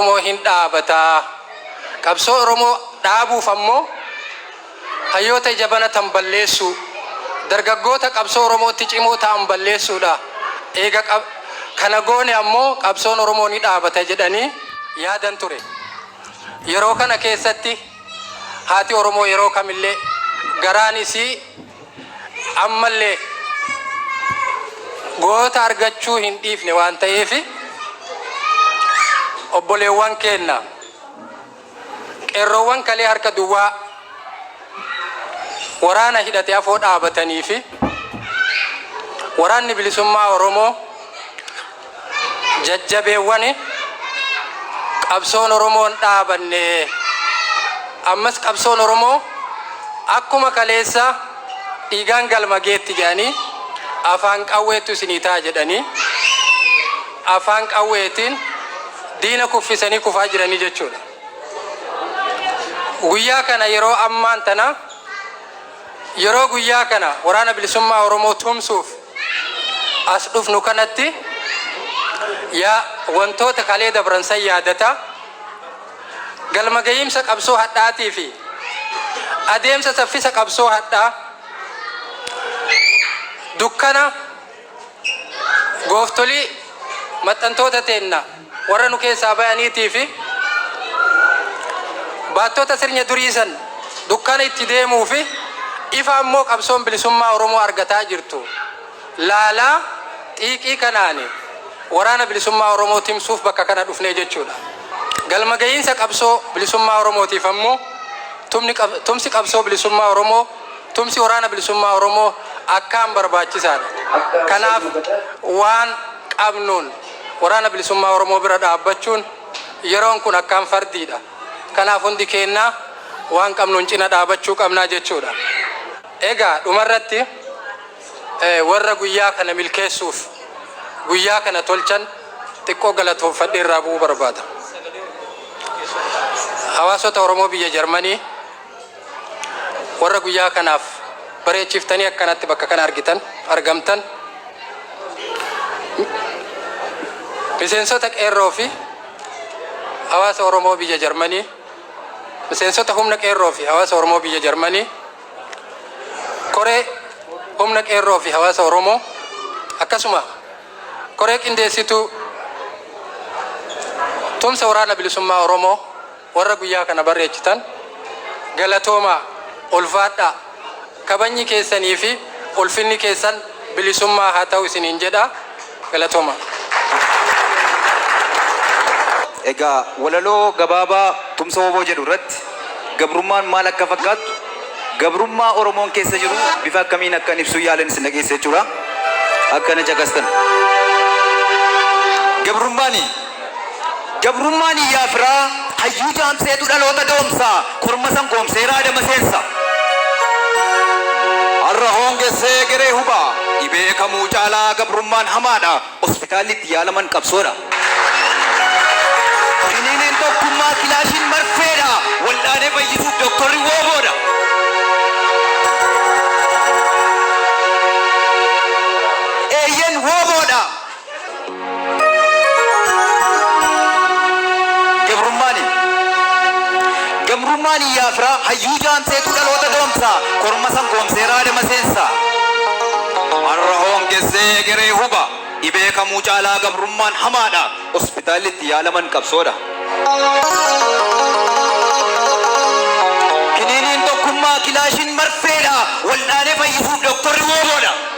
Oromoo hin dhaabata. Qabsoo Oromoo dhaabuuf ammoo hayyoota ija banatan balleessuu, dargaggoota qabsoo Oromootti cimoo ta'an balleessuudha. Eega qab- kana goone ammoo qabsoon Oromoo ni dhaabata jedhanii yaadan ture. Yeroo kana keessatti haati Oromoo yeroo kamillee garaan isii ammallee goota argachuu hin dhiifne waan ta'eef obboleewwan keenna qeerroowwan kalee harka duwwaa waraana hidhate afoo dhaabatanii fi waraanni bilisummaa Oromoo Jajjabeewwani qabsoon Oromoo hin dhaabanne. Ammas qabsoon Oromoo akkuma kaleessa dhiigaan galma geetti jedhanii afaan qawweettu isinii ta'a jedhanii afaan qawweetiin diina kuffisanii kufaa jiranii jechuudha. Guyyaa kana yeroo ammaan tana Yeroo guyyaa kana Waraana Bilisummaa Oromoo tumsuuf as dhufnu kanatti yaa wantoota kalee dabran san yaadataa, galma gahiimsa qabsoo hadhaatii fi adeemsa saffisa qabsoo hadhaa dukkana, gooftolii maxxantoota teenna warra nu keessaa bayaniitii fi baattota sirnya durii san dukkana itti deemuu fi ifa ammoo qabsoon bilisummaa Oromoo argataa jirtu laalaa xiiqii kanaani waraana bilisummaa Oromoo timsuuf bakka kana dhufnee jechuudha. Galma gahiinsa qabsoo bilisummaa Oromootiif ammoo tumni qab- tumsi qabsoo bilisummaa Oromoo Tumsi Waraana Bilisummaa Oromoo akkaan barbaachisaa dha. Kanaaf waan qabnuun Waraana Bilisummaa Oromoo bira dhaabbachuun yeroon kun akkaan fardii dha. Kanaaf hundi keennaa waan qabnuun cina dhaabachuu qabnaa jechuu dha. Egaa dhumarratti warra guyyaa kana milkeessuuf guyyaa kana tolchan xiqqoo galatoomfadhee irraa bu'uu barbaada. Hawaasota Oromoo biyya Jarmanii. Warra guyyaa kanaaf bareechiftanii akkanatti bakka kana argitan, argamtan, miseensota Qeerroo fi hawaasa Oromoo biyya Jarmanii, miseensota humna Qeerroo fi hawaasa Oromoo biyya Jarmanii, koree humna Qeerroo fi hawaasa Oromoo, akkasuma koree qindeessituu tumsa waraana bilisummaa Oromoo, Warra guyyaa kana barreechitan galatoomaa, ulfaadhaa, kabajni keessanii fi ulfinni keessan bilisummaa haa ta'u isiniin jedha. Galatoomaa. Egaa walaloo gabaabaa Tumsa Wbo jedhu irratti gabrummaan maal akka fakkaattu, gabrummaa Oromoon keessa jiru bifa akkamiin akkan ibsuu yaalen isin dhageessisa jechuudha. Akka na caqastan. Gabrummaan. Gabrummaan iyyaa firaa, hayyuu jaamseetu dhaloota doomsa, korma san goomseera adama seensa. Har'a hoongesse egeree huba, dhibee kamuu caalaa gabrummaan hamaadha, hospitaalli itti yaalaman qabsoodha. Kiniiniin tokkummaa kilaashiin marfeedha, wal'aanee fayyisuuf doktorri wooboodha. Eeyyen wooboodha, Gabrummaani Gabrummaani yaa firaa hayyuu jaamseetuu dhaloota doomsaa korma san goomsee raadama seensaa. Har'a hoongessee egeree huba dhibee kamuu caalaa gabrummaan hamaadha hospitaalli itti yaalaman qabsoodha. Kiniiniin tokkummaa kilaashiin marfeedha waldhaanee fayyisuuf doktorri wooboodha.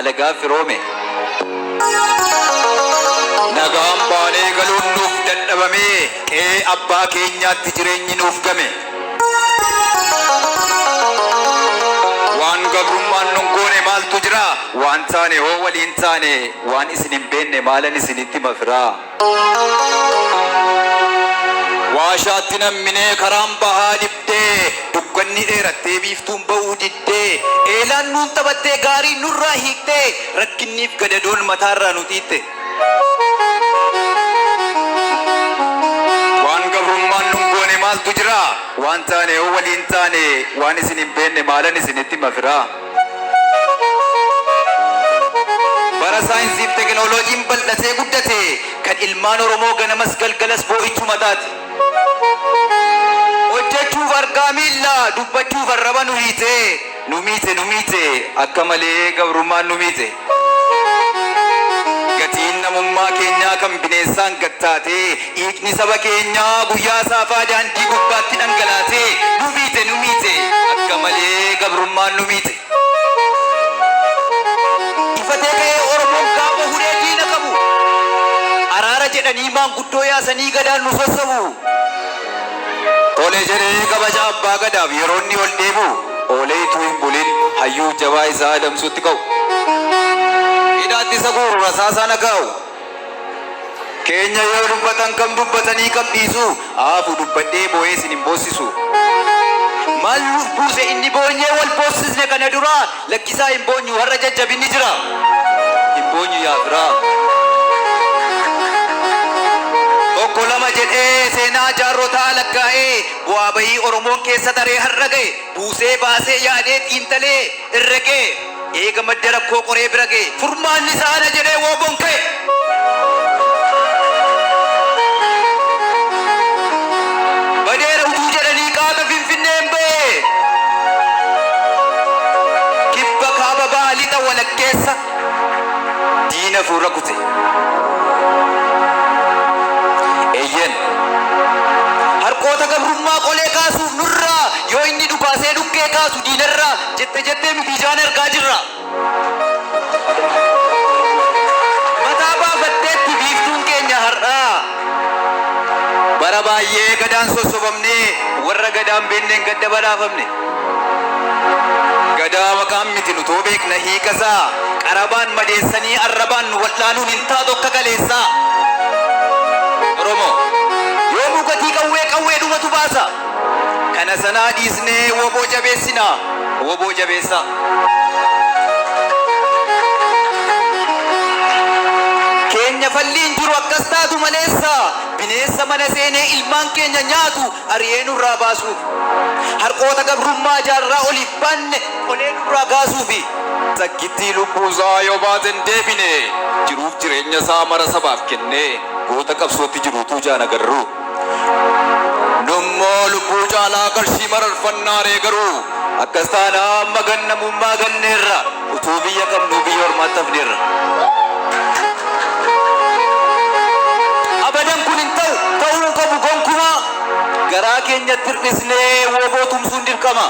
alagaan firoome. Nagaan baanee galuun nuuf dadhabamee qe'ee abbaa keenyaatti jireenyi nuuf game. Waan gabrummaan nun goone maaltu jira? Waan taane hoo waliin taane waan isin hin beenne maalan isinitti hima firaa? Waashaatti namminee karaan bahaa dhibdee dukkanni dheerattee biiftuun ba'uu diddee eelaan nuun taphattee gaarii nurraa hiiktee rakkinniif gadadoon mataarraa nu xiixxe. Waan gabrummaan nun goone maaltu jiraa waan taane yoo waliin taane waan isin hin beenne maalan isinitti hima firaa. Bara saayinsii fi tekinooloojiin bal'atee guddate kan ilmaan Oromoo ganamas galgalas boo'ichuu mataati. Hojjechuuf argaa miilla, dubbachuuf arraba nu hiite, nu miite, nu miite, akka malee gabrummaan nu miite. Gatiin namummaa keenyaa kan bineensaan gad taatee, dhiigni saba keenyaa guyyaa saafaa daandii gubbaatti dhangalaasee, nu miite, nu miite, akka malee gabrummaan nu miite. Ifatee ka'ee Oromoon gaafa hudhee diina qabu, araara jedhanii maanguddoo yaasanii gadaan nu sossobu. Tole jedhee kabaja Abbaa Gadaaf yeroo inni ol deebi'u oolee ituu hin bulin hayyuuf jabaa isaa adamsuutti ka'u. Hidhaatti isa guuru rasaasaan haa gaa'u. Keenya yoo dubbatan kam dubbatanii kam dhiisuu haa hafu dubbadhee boo'ee isin hin boossisu. Maal nuuf buuse inni boonyee wal boossisne kana duraa Lakkisaa hin boonyu har'a jajjabinni jira hin boonyu yaa firaa. Tokko lama jedhee seenaa jaarrotaa lakkaa'ee bu'aa bahii Oromoon keessa taree har'a gahe buusee baasee yaadee xiinxalee herregee eega madda rakkoo qoree bira gahe furmaanni isaa ana jedhee WBOn ka'e. Badeera utuu jedhanii qaata Finfinneen ba'ee Kibba Kaaba Baha Lixa walakkeessa diina fuura kute. Eeyyen harqoota gabrummaa qolee kaasuuf nurraa yoo inni dhukaasee dhukkee kaasu diinarraa jette jettee nuti ijaan argaa jirra. Mataa baafatteetti biiftuun keenya har'aa Bara baay'ee gadaan sossobamnee Warra gadaa hin beekneen gadda badhaafamne Gadaa maqaan miti nutoo beekna hiikasaa Qarabaan madeessanii arrabaan nu wal'aanuun hin taatu akka kaleessaa Oromoo! Yoomuu gatii qawwee qawweedhumatu baasa! Kana sanaa dhiisnee wbo jabeessina! Wbo jabeessaa! Keenya falli hin jiru akkas taatu maleessa! Bineensa mana seenee ilmaan keenya nyaatu ari'ee nurraa baasuuf! Harqoota gabrummaa jaarraa oliif baanne qolee nurraa kaasuuf! Takkittii lubbuusaa yoo baate hin deebine! Jiruuf jireenyasaa mara sabaaf kennee goota qabsootti jiru utuu ijaan agarruu! Nummoo lubbuu caalaa qarshii mararfannaaree garuu? Akkas taanaan amma gan namummaa ganneerra. Utuu biyya qabnuu biyya ormaatti hafneerra. Abadan kun hin ta'u, ta'uu hin qabu gonkumaa! Garaa keenyatti hir'isnee wbo tumsuun dirqama.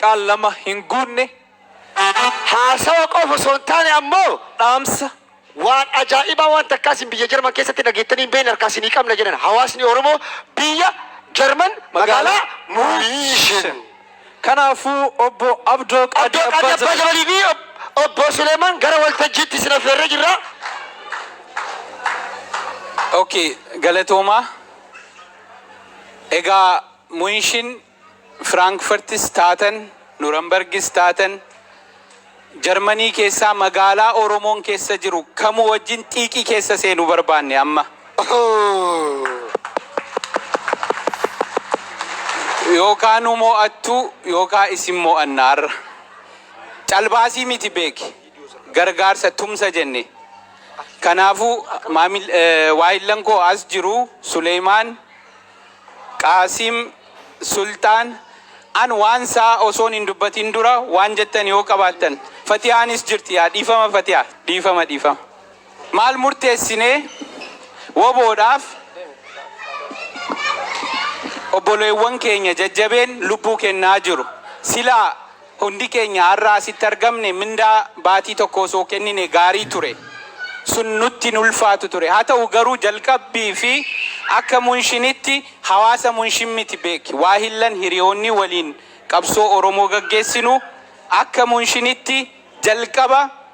qaal lama hin guunne haasawa qofa osoo hin taane ammoo dhaamsa waan ajaa'ibaa waan takkaa isin biyya Jarman keessatti dhageettanii hin beekne harkaa isinii qabna jedhan hawaasni Oromoo biyya Jarman magaalaa Muushin. Kanaafuu obbo Abdoo Qaadii Abdoo Qaadii Abbaa Jabalii fi obbo Suleemaan gara waltajjiitti isin affeerree jirra. Okay, galatoomaa. Egaa Muushin Firaankfartis taatan, Nurambargis taatan, Jarmanii keessaa magaalaa Oromoon keessa jiru kamuu wajjin xiiqii keessa seenu barbaanne amma. Yookaa nu mo'attu yookaa isin mo'anna har'a. Calbaasii miti beeki. Gargaarsa, tumsa jenne. Kanaafuu maamil, waahillan koo as jiru Suleeymaan, Qaasim Sulxaan, An waan saa osoon hin dubbatin dura waan jettan yoo qabaattan. Fatihaanis jirti yaa dhiifama Fatihaa. Dhiifama dhiifama. Maal murteessinee WBOdhaaf obboleewwan keenya jajjabeen lubbuu kennaa jiru. Silaa. Hundi keenya har'a asitti argamne mindaa baatii tokkoo osoo kennine gaarii ture. Sun nutti hin ulfaatu ture. Haa ta'u garuu jalqabbii fi akka Munshinitti hawaasa Munshin miti beeki. Waahillan hiriyoonni waliin qabsoo Oromoo gaggeessinu akka Munshinitti jalqaba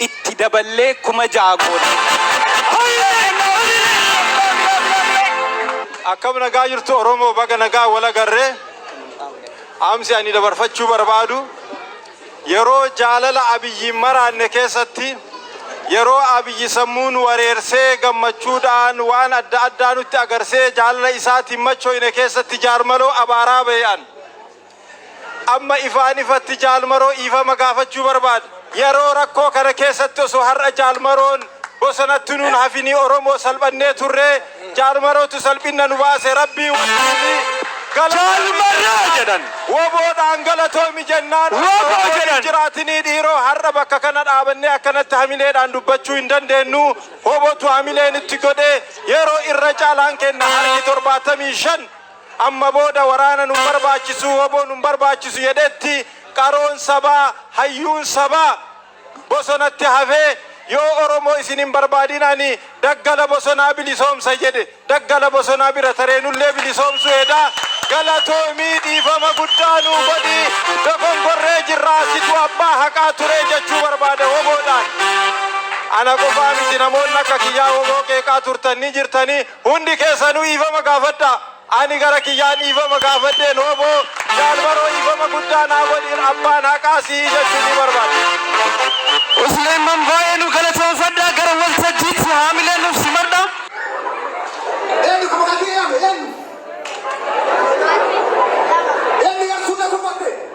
itti daballee 6000 goone. Akkam nagaa jirtu Oromoo baga nagaan wal agarre. Dhaamsi ani dabarfachuu barbaadu yeroo jaalala Abiyyiin maraanne keessatti yeroo Abiyyi sammuu nu wareersee gammachuudhaan waan adda addaa nutti agarsee jaalala isaatiin machoyne keessatti jaarmaloo abaaraa bahe an Amma ifaan ifatti Jaal Maroo dhiifama gaafachuu barbaada. Yaroo rakkoo kana keessatti osoo har'a Jaal Maroon bosonatti nuun hafinii Oromoo salphannee turree Jaal Marootu salphinna nu baase Rabbii wajjiini Jaal Marroo jedhan. Woboodhaan galatoomi jennaan akka Woboo woboon hin jedhan. jiraatinii dhiiroo har'a bakka kana dhaabannee akkanatti hamileedhaan dubbachuu hin dandeennu wobotu hamilee nutti godhee yeroo irra caalaan kenna harki 75 Amma booda waraana nun barbaachisu, wbo nun barbaachisu jedhetti qaroon sabaa, hayyuun sabaa bosonatti hafee yoo Oromoo isin hin barbaadin ani daggala bosonaa bilisoomsa jedhe daggala bosonaa bira taree nullee bilisoomsuu heda. Galatoomi dhiifama guddaa nuu godhi dogongorree jirra situ abbaa haqaa ture jechuu barbaada wbo dhaan. Ana qofaa miti namoonni akka kiyyaa wbo qeeqaa turtan ni jirtani. Hundi keessanu dhiifama gaafadhaa. Ani gara kiyyaan dhiifama gaafadheen hooboo Jaal Maroo dhiifama guddaa naa godhiir abbaan haqaa sihi jechuu ni barbaada. Usleman baay'ee nu galatoomfadhaa gara waltajjiitti haamilee nuuf simadhaa. Eenyu ka maqaa kiyya yaame? Eenyu? Eennu yakkuu na gufadhe?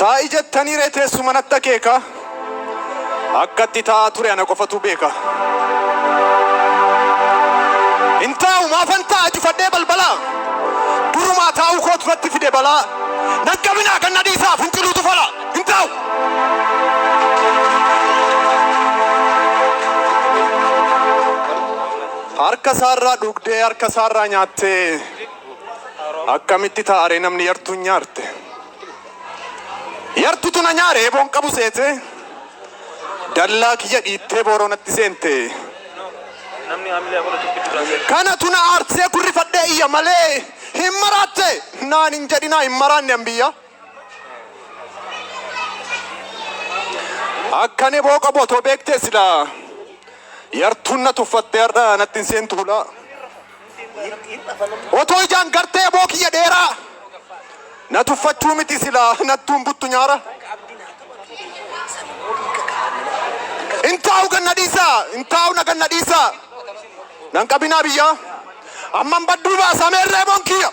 Taa'i jettanii ree teessuma natti akeeka Akkatti taa'aa ture ana qofatu beeka Hin taa'u maafan taa'a cufadhee balbala Durumaa taa'uu kootu natti fide balaa Nan qabinaa kan na dhiisaa finciluutu fala Hin taa'u Harka isaarraa dhugdee harka isaarraa nyaattee Akkamitti taa'aree namni yartuun nyaarte? Yartutu na nyaare eeboon qabu seete dallaa kiyya dhiittee booroo natti seente. Kanatu na aarsee kurrifadhee iyya malee hin maraatte naan hin jedhinaa hin maraanne an biyya. Akkan eboo qabu otoo beektee silaa yartuun na tuffattee har'a natti hin seentu bulaa. Otoo ijaan gartee boo kiyya dheeraa na tuffachuu miti silaa nattuun buttu nyaara. Intaa'u ganna dhiisaa intaa'u na ganna dhiisaa nan qabinaa biyyaa amman badduu baasa meerree boon kiyya.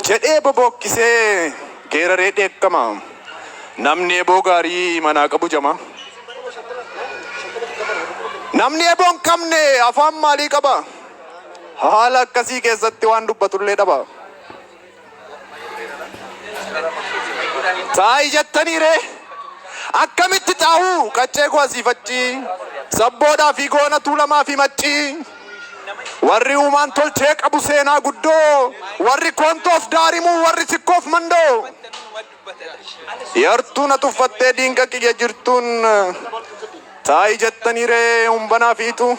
Jedhee bobookkisee geeraree dheekkama. Namni eboo gaarii imanaa qabu jama. Namni eboo hin qabne afaan maalii qaba? Haala akkasii keessatti waan dubbatullee dhaba. Xaa'ii jettanii ree? Akkamitti xaa'uu? Qaccee koo asii faccii. Sabboodhaa fi goona tuulamaa fi maccii. Warri uumaan tolchee qabu seenaa guddoo. Warri koontoof daarimuu, warri sikkoof mandoo. Yartuu na tuffattee diinqa kiyya jirtuun taa'i jettanii ree humbanaa fi ituu.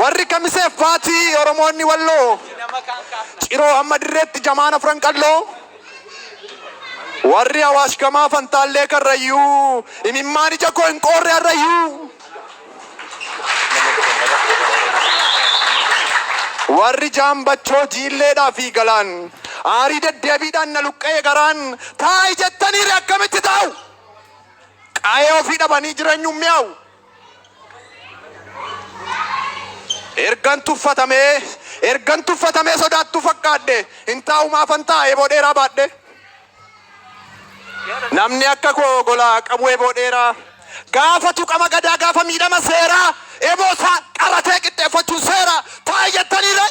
Warri kamisee faatii Oromoonni walloo ciroo amma dirreetti jamaan afran qalloo. Warri awaash gamaa fantaallee karrayyuu imimmaan ija koo hin qoorre harrayyuu. Warri Jaambachoo, Jiilleedhaa fi Galaan aarii deddeebiidhaan na luqqa'e garaan taa'i jettaniire akkamitti taa'u? Qa'ee ofii dhabanii jireenyuun mi'aawu. Ergan tuffatamee, ergan tuffatamee sodaattuu fakkaadhe, hin taa'u maafan taa'a eeboo dheeraa baadhee. Namni akka koo gola qabu eboo dheeraa Gaafa tuqama gadaa gaafa miidhama seeraa Eboo isaa qaratee qixxeeffachuun seeraa Taa'e jettanii ree?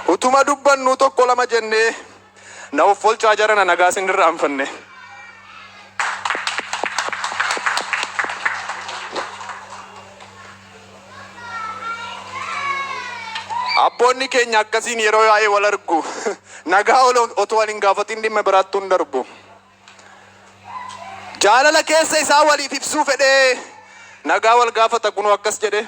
Utuma dubbannuu tokko lama jennee Na offolchaa jarana nagaa sin irraanfanne. Abboonni keenya akkasiin yeroo yaa'ee wal argu. Nagaa ol- otoo wal hin gaafatiin dhimma biraatti hin darbu. Jaalala keessa isaa waliif ibsuu fedhee nagaa wal gaafata kunoo akkas jedhe.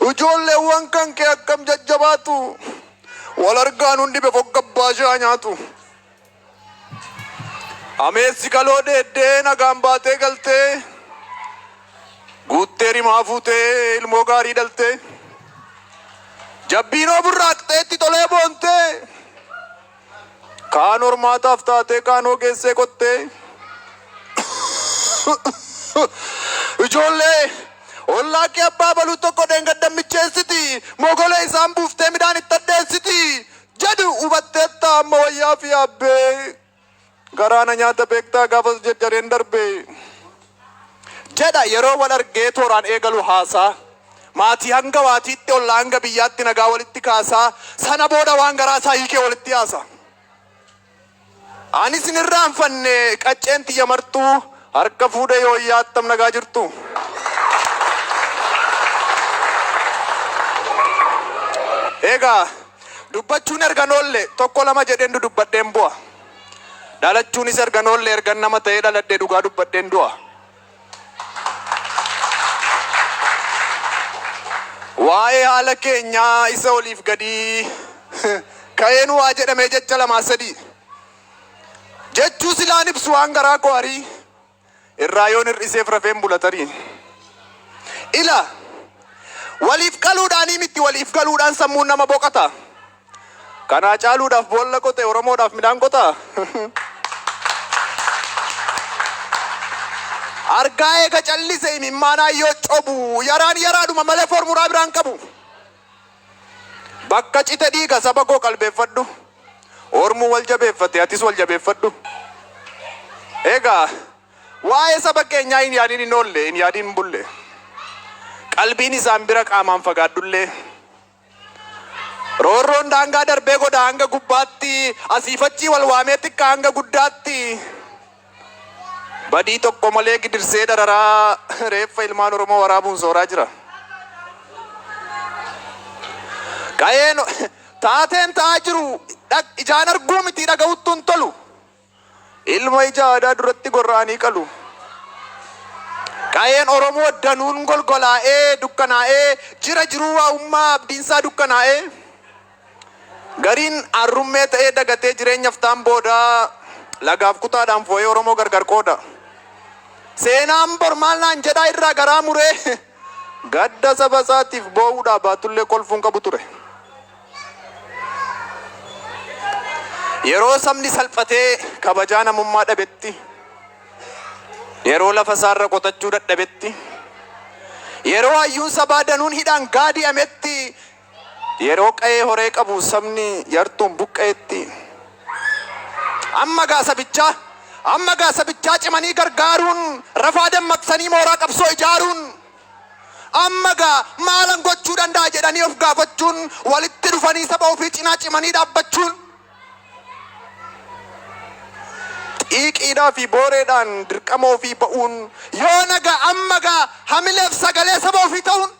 Ijoolleewwan kan kee akkam jajjabaatu wal argaan hundi befoggabbaa shaa nyaatu. Ameessi kaloo deeddee nagaan baatee galtee. Guuttee rimaa fuutee ilmoo gaarii dhaltee. Jabbiinoo burraaqxee itti tolee boontee. Kaan hormaataaf taatee kaan hogeessee qottee. Ijoollee ollaa kee abbaa baluu tokko dheengaddan micheessiti. Mogolee isaan buuftee midhaan itti addeessiti. Jedhu hubatteetta amma wayyaa fi yaabbee. Garaa na nyaata beektaa gaafas jarjareen darbe. Jedha yeroo wal argee tooraan eegalu haasaa. Maatii hanga waatiitti ollaa hanga biyyaatti nagaa walitti kaasaa sana booda waan garaa isaa hiikee walitti haasa. Anis hin irraanfanne qacceen tiyya martuu harka fuudhee yooyyaa attam nagaa jirtu. Egaa Dubbachuun ergan oolle tokko lama jedheen dudubbadheen bu'a. Dhalachuunis ergan oolle ergan nama ta'ee dhaladhe dhugaa dubbadheen du'a. Waa'ee haala keenyaa isa oliif gadii ka'een waa jedhamee jecha lamaa sadii jechuu silaan ibsu waan garaa koo arii. Irraa yoon hir'iseef rafeen bula tarii. Ila! Waliif qaluudhaanii mitti waliif galuudhaan sammuun nama boqata. Kanaa caaluudhaaf boolla qote Oromoodhaaf midhaan qotaa? Argaa eega callise imimmaanaan yoo cobu yaraan yaraadhuma malee formuraa biraa hin qabu. Bakka cite dhiiga saba koo qalbeeffadhu Ormu wal jabeeffate atis wal jabeeffadhu Egaa waa'ee saba keenyaa hin yaadin hin oolle hin yaadin hin bulle Qalbiin isaan bira qaamaan fagaadhullee Roorroon daangaa darbee godhaa hanga gubbaatti Asiif achii wal waamee xiqqaa hanga guddaatti Badii tokko malee gidirsee dararaa reeffa ilmaan Oromoo waraabuun sooraa jira. Qa'een taateen ta'aa jiru dhag- ijaan arguu miti dhaga'uttu hin tolu. Ilma ija aadaa duratti gorra'anii qalu. Qa'een Oromoo danuun golgolaa'ee dukkanaa'ee jira jiruu waa'ummaa abdiinsaa dukkanaa'ee. Gariin arrummee ta'ee dagatee jireenya ftaan booda lagaaf kutaadhaan foo'ee Oromoo gargar qooda. Seenaan bor maal naan jedhaa irraa garaa muree gadda saba isaatiif boo'uudhaa baatullee kolfuu hin qabu ture. Yeroo sabni salphatee kabajaa namummaa dhabetti, yeroo lafa isaarra qotachuu dadhabetti, yeroo hayyuun sabaa danuun hidhaan gaadi'ametti Yeroo qa'ee horee qabu sabni yartuun buqqa'etti amma gaa sabichaa amma gaa sabichaa cimanii gargaaruun rafaa dammaqsanii mooraa qabsoo ijaaruun amma gaa maalan gochuu danda'a jedhanii of gaafachuun walitti dhufanii saba ofii cinaa cimanii dhaabbachuun xiiqiidhaa fi booreedhaan dirqama ofii ba'uun yoo nagaa amma gaa hamileef sagalee saba ofii ta'uun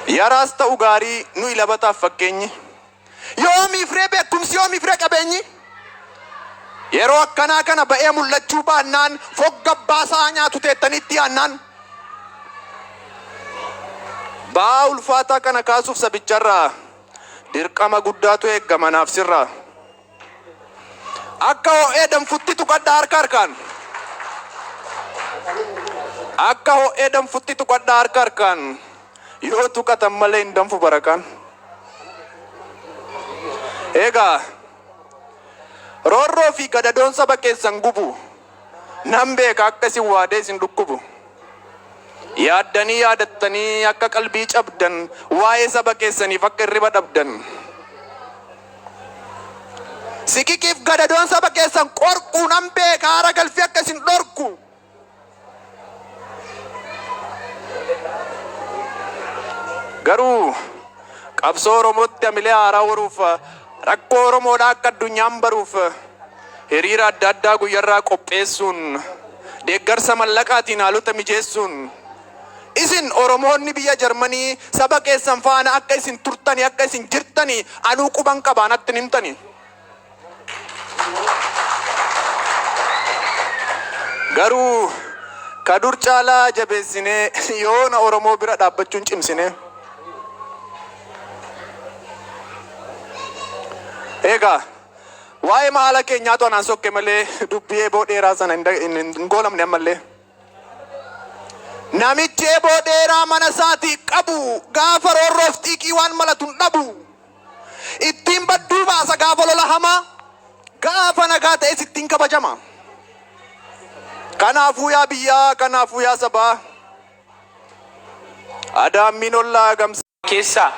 Yaraas ta'u gaarii nuyi labataaf fakkeenyi. Yoomiif ree beekumsi yoomiif ree qabeenyi? Yeroo akkanaa kana ba'ee mul'achuu baannaan fogga abbaa isaa nyaatu teettanii itti yaannaan. Ba'aa ulfaataa kana kaasuuf sabicharraa dirqama guddaatu eegama naaf sirraa. Akka ho'ee danfutti tuqadhaa harka harkaan. Akka ho'ee danfutti tuqadhaa harka harkaan. Yoo tuqatan malee hin danfu barakaan. Egaa roorroo fi gadadoon saba keessan gubu. Nan beeka akka isin waadee isin dhukkubu. Yaaddanii yaadattanii akka qalbii cabdan, waa'ee saba keessaniif akka hirriba dhabdan. Siqiqiif gadadoon saba keessan qorqu nan beeka, aara galfii akka isin dhorku. Garuu qabsoo Oromootti hamilee haaraa horuuf rakkoo Oromoodhaa akka addunyaan baruuf hiriira adda addaa guyyarraa qopheessuun deeggarsa mallaqaatiin haalota mijeessuun isin Oromoonni biyya Jarmanii saba keessan faana akka isin turtani akka isin jirtani anuu quban qabaan attin himtani. Garuu ka dur caalaa jabeessinee yoona Oromoo bira dhaabbachuun cimsinee. Eegaa waa'ee haala keenyaatu anaan sokke malee dubbii eeboo dheeraa sana hin da- hin- hin goolabne ammallee. Namichi eeboo dheeraa mana isaatii qabu gaafa roorroof xiiqii waan malatu hin dhabu. Ittiin badduu baasa gaafa lola hamaa Gaafa nagaa ta'es ittiin kabajama Kanaafuu yaa biyyaa kanaafuu yaa sabaa Adaammiin ollaa gamsa keessaa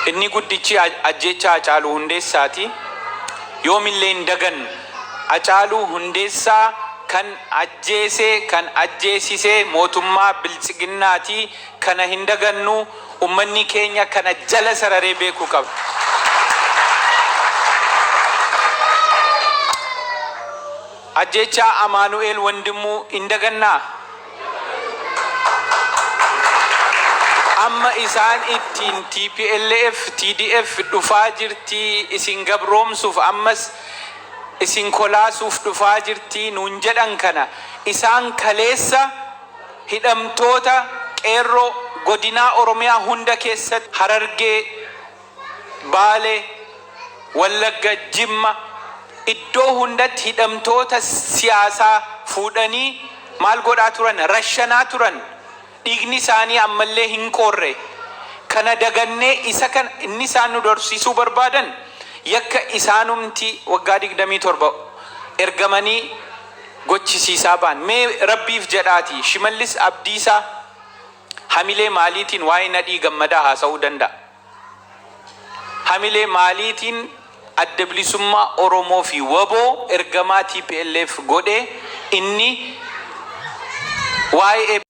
inni guddichi ajjeechaa Hacaaluu Hundeessaati. Yoomillee hin dagannu. Hacaaluu Hundeessaa kan ajjeese, kan ajjeesise mootummaa Biltsiginnaati. Kana hin dagannu, ummannii keenya kana jala sararee beekuu qaba. Ajjeechaa Amaanu'eel Wandimmuu hin dagannaa? Amma isaan ittiin tplf, TDF dhufaa jirti, isin gabroomsuuf ammas isin kolaasuuf dhufaa jirti nuun jedhan kana isaan kaleessa Hidhamtoota Qeerroo Godinaa Oromiyaa hunda keessatti Harargee, Baalee, Wallagga, Jimma iddoo hundatti hidhamtoota siyaasaa fuudhanii maal godhaa turan? Rashanaa turan. Dhiigni isaanii ammallee hin qoorre. Kana dagannee isa kana inni isaan nu dorsiisuu barbaadan yakka isaanumti waggaa 27 ergamanii gochisiisaa ba'an. Mee Rabbiif jedhaatii Shimallis Abdiisaa hamilee maaliitiin waa'ee Nadhii Gammadaa haasa'uu danda'a? Hamilee maaliitiin Adda Bilisummaa Oromoo fi wbo ergamaa tplf godhee inni waa'ee.